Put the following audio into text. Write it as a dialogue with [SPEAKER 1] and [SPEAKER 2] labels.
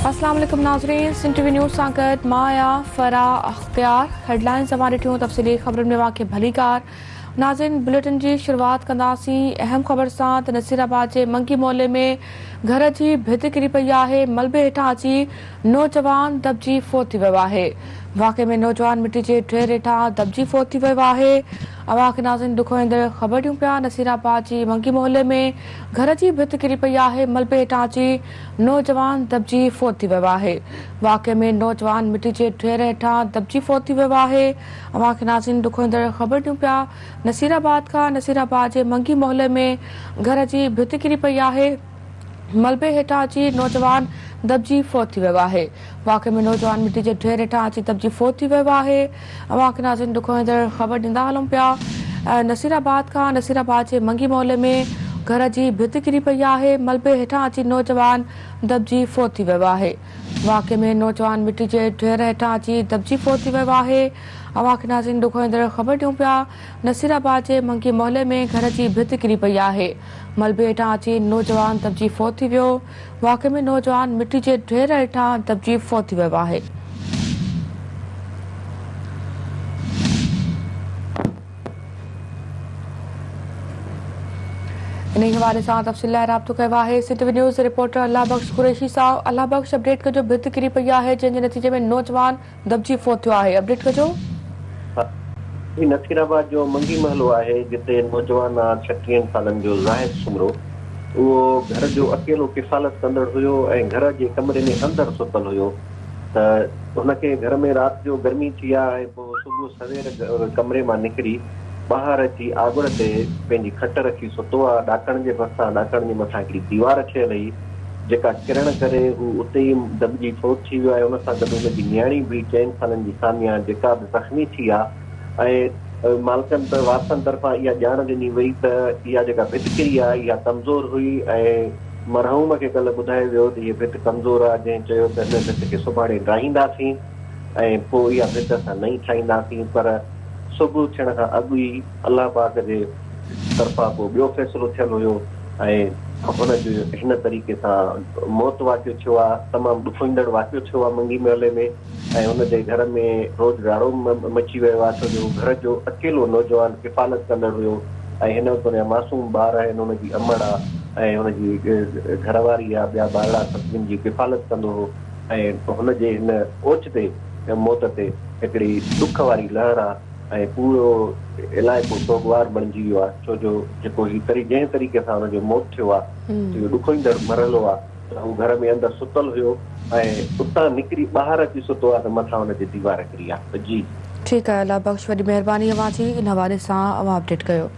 [SPEAKER 1] اسلام عليڪم ناظرين سنڌ ٽي وي نيوز سان گڏ مان آهيان فرح اختيار هيڊلائنز اوهان ڏٺيون تفصيلي خبرن ۾ اوهان کي ڀلي ڪار ناظرين بليٽن جي شروعات ڪنداسين اهم خبر سان ته نصير آباد جي منگي محلي ۾ گهر جي ڀت ڪري پئي آهي ملبي هيٺان اچي نوجوان دٻجي فوت ٿي ويو آهي واقعي ۾ نوجوان مٽي جي ڍير هيٺان دٻجي فوت ٿي ويو آهي اوهان کي ناظرين ڏک هوندڙ خبر ڏيون پيا نصير آباد جي ونگي محلي ۾ گهر جي ڀت ڪري پئي آهي ملبي هيٺان اچي نوجوان دٻجي فوت ٿي ويو آهي واقعي ۾ نوجوان مٽي جي ڍير هيٺان دٻجي فوت ٿي ويو آهي اوهان کي ناظرين ڏک هوندڙ خبر ڏيون پيا نصير آباد کان نصير آباد جي ونگي محلي ۾ گهر جي ڀت ڪري پئي آهي ملبي هيٺان اچي نوجوان دٻجي فوت ٿي ويو آهي. واقعي ۾ نوجوان مٽي جي ڍير هيٺان اچي دٻجي فوت ٿي ويو آهي. اوهان کي ناظرين ڏکوئيندڙ خبر ڏيندا هلون پيا. نصير آباد کان نصير آباد جي منگي محلي ۾ گهر جي ڀت ڪري پئي آهي. ملبي هيٺان اچي نوجوان دٻجي فوت ٿي ويو آهي. واقعي ۾ نوجوان مٽي جي ڍير هيٺان اچي دٻجي فوت ٿي ويو آهي. اوهان کي ناظرين ڏکوئيندڙ خبر ڏيون پيا. نصير آباد جي منگي محلي ۾ گهر جي ڀت ڪري پئي آهي، ملبي هيٺان اچي نوجوان دٻجي فوت ٿي ويو، واقعي ۾ نوجوان مٽي جي ڍير هيٺان دٻجي فوت ٿي ويو آهي. انهي حوالي سان تفصيل لاء رابطو ڪيو آهي Sindh V news reporter Allah Bakhsh Qureshi سان الله بخش اپڊيٽ ڪجو ڀت ڪري پئي آهي جنهن جي نتيجي ۾ نوجوان دٻجي فوت ٿيو آهي اپڊيٽ ڪجو. هي
[SPEAKER 2] نصيرآباد جو منگي محلو آهي جتي نوجوان آ ڇٽيهن سالن جو زاهد سومرو اهو گهر جو اڪيلو ڪفالت ڪندڙ هيو ۽ گهر جي ڪمري ۾ اندر ستل هيو ته هن کي گهر ۾ رات جو گرمي ٿي آ ۽ پوء صبح سوير ڪمري مان نڪري ٻاهر اچي آڳڙ تي پنهنجي کٽ رکي ستو آ ڏاڪڻ جي ڀرسان ڏاڪڻ جي مٿان هڪڙي ديوار ٺهيل هئي جيڪا ڪرڻ ڪري هو اتي ئي دٻجي فوت ٿي ويو آهي ان سان گڏ هن جي نياڻي به چئن سالن جي ساميا جيڪا به زخمي ٿي آهي ۽ مالڪن ته وارثن طرفان اها ڄاڻ ڏني وئي ته اها جيڪا ڀت ڪري آهي اها ڪمزور هئي ۽ مرحوم کي ڪلهه ٻڌايو ويو ته هيء ڀت ڪمزور آهي جنهن چيو ته هن ڀت کي سڀاڻي ڊاهينداسين ۽ پوء اها ڀت اسان نئين ٺاهينداسين پر صبح ٿيڻ کان اڳ ئي الله پاڪ جي طرفان ڪو ٻيو فيصلو ٿيل هيو ۽ هن جو هن طريقي سان موت واقع ٿيو آ تمام ڏکوئيندڙ واقعو ٿيو آ منگي محلي ۾ ۽ هن جي گهر ۾ روڄ راڙو مچي ويو آ ڇو جو هو گهر جو اڪيلو نوجوان ڪفالت ڪندڙ هيو ۽ هن وقت هن جا معصوم ٻار آهن هن جي امڙ آ ۽ هن جي گهر واري آ ٻيا ٻارڙا سڀ جن جي ڪفالت ڪندو هو ۽ هن جي هن اوچتي موت تي هڪڙي ڏک واري لهر آ. ۽ پورو علائقو سوڳوار بڻجي ويو آهي ڇو جو جيڪو هي تري جنهن طريقي سان هن جو موت ٿيو آهي سو اهو ڏکوئيندڙ مرحلو آهي ته هو گهر ۾ اندر ستل هيو ۽ اتان نڪري ٻاهر اچي ستو آهي ته مٿان هن جي ديوار ڪري آهي
[SPEAKER 1] جي. ٺيڪ آهي الله بخش
[SPEAKER 2] وڏي
[SPEAKER 1] مهرباني اوهان جي ان حوالي سان اوهان
[SPEAKER 2] اپڊيٽ
[SPEAKER 1] ڪيو.